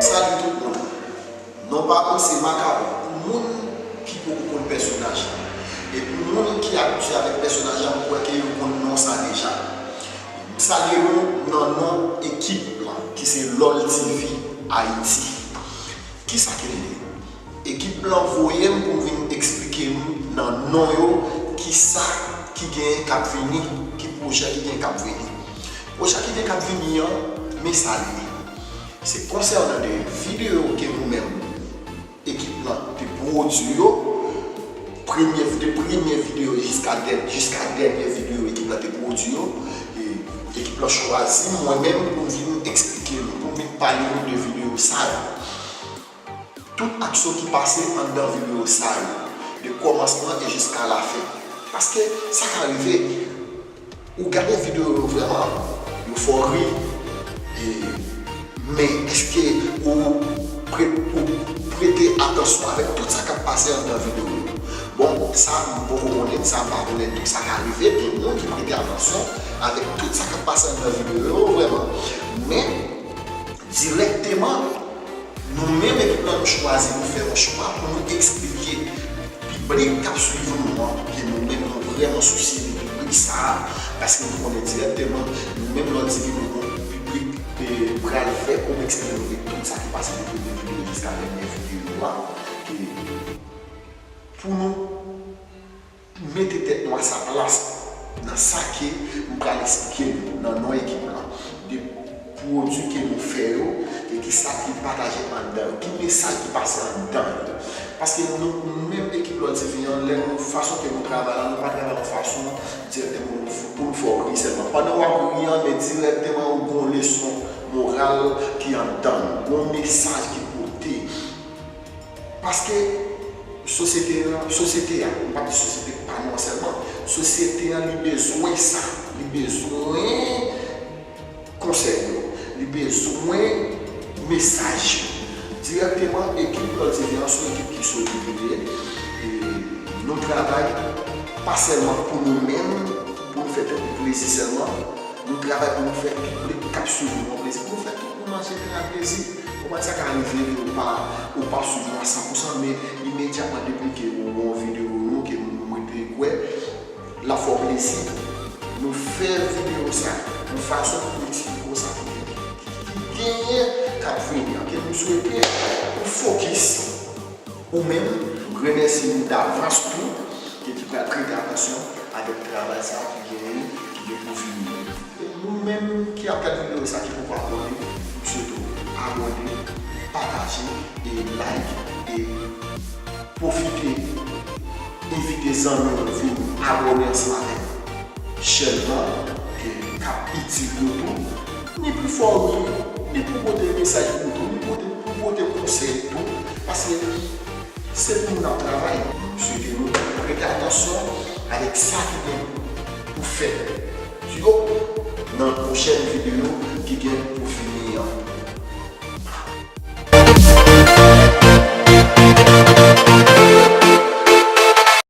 Salut tout moun non pa mwen se Makawon pou moun ki poko konn pèsonaj lan e pou moun ki abitye avèk pèsonaj la mwen kwè ke yo konn non sa deja m salye nou nan non ekip lan ki se loltv Haïti kisa ke li ye? Ekip lan voye m pou m vin eksplike nou nan non yo kisa ki genyen k ap vini, ki pwojè ki genyen k ap vini. Pwojè ki genyen k ap vini an, men sa l ye. Se konsènan de videyo ke nou menm ekip lan te pwodui yo, premye, de premye videyo jiska dè, jiska dènye videyo ekip lan te pwodui yo. E ekip lan chwazi mwen menm pou m vin eksplike nou, pou m vin pale nou de videyo sa yo. Tout aksyon ki pase anndan video sa yo, de kòmansman e jiska lafen. Paske sa ka rive ou gade video yo vrèman yo fè w ri e men eske ou prete atansyon avèk tout sa kap pase anndan video yo? Bon sa m poko konnen, sa m pa konnen tou. Sa ka rive gen moun ki prete atansyon avèk tout sa kap pase anndan video yo vrèman men dirèkteman. Nou menm ekip la nou chwazi pou fè yon chwa pou nou eksplike piblik k ap swiv nou an ke nou menm nou vrèman sousye de piblik sa a paske nou konnen dirèkteman nou menm lè w di ke nou gon kou piblik te pral fè pou w eksplike nou de tout sa ki pase de premye videyo jiska dènye videyo a ke pou nou. Pou mete tèt nou a sa plas nan sa ke m pral esplike nou nan non ekip lan, de pwodui ke nou fè yo e ki sa ki pataje anndan yo, ki mesaj ki pase anndan yo. Paske nou menm ekip Lò Diven an, lè nou, fason ke nou travay la, nou pa travay yon fason dirèkteman pou nou, pou nou fè w ri sèlman. Pandan w ap ri an, men dirèkteman ou gen yon leson moral ki anndan l, gen yon mesaj ki pote. Paske, sosyete an, sosyete a, m pa di sosyete pa nou an sèlman, sosyete an li bezwen sa, li bezwen konsèy yo, li bezwen mesaj yo. Dirèkteman, ekip Klòdini an se yon ekip ki solid li ye, e nou travay pa sèlman pou nou menm, pou nou fè tèt nou plezi sèlman, nou travay pou nou fè piblik k ap suiv nou an plezi, pou nou fè tout. Pou manje vin ak plezi. Konprann sa ka rive ke ou pa ou pa swiv mwen a san pou san men imedyatman depi ke ou wè yon video nou ke m rete kwè lap fè w plezi nou fè video sa yon fason pou nou eksplike w sa ki genyen kap vini an ke m swete ou fokis. Ou menm, m remèsye ou davans tou ke ki pral prete atansyon avèk travay sa ki gen ki gen pou vini an. Ou menm ki ap gad video sa ki poko abòne, m swete w abòne, pataje e like e pwofite envite zanmi w vin abòne ansanm avèk chèn lan ke kap itil yo tou, ni pou fòme yo, ni pou pote mesaj pou yo tou, ni pou pote konsèy tou. Paske se pou nou nap travay. M swete nou prete atansyon avèk sa ki gen pou fèt yo nan pwochèn videyo ki gen pou vini an.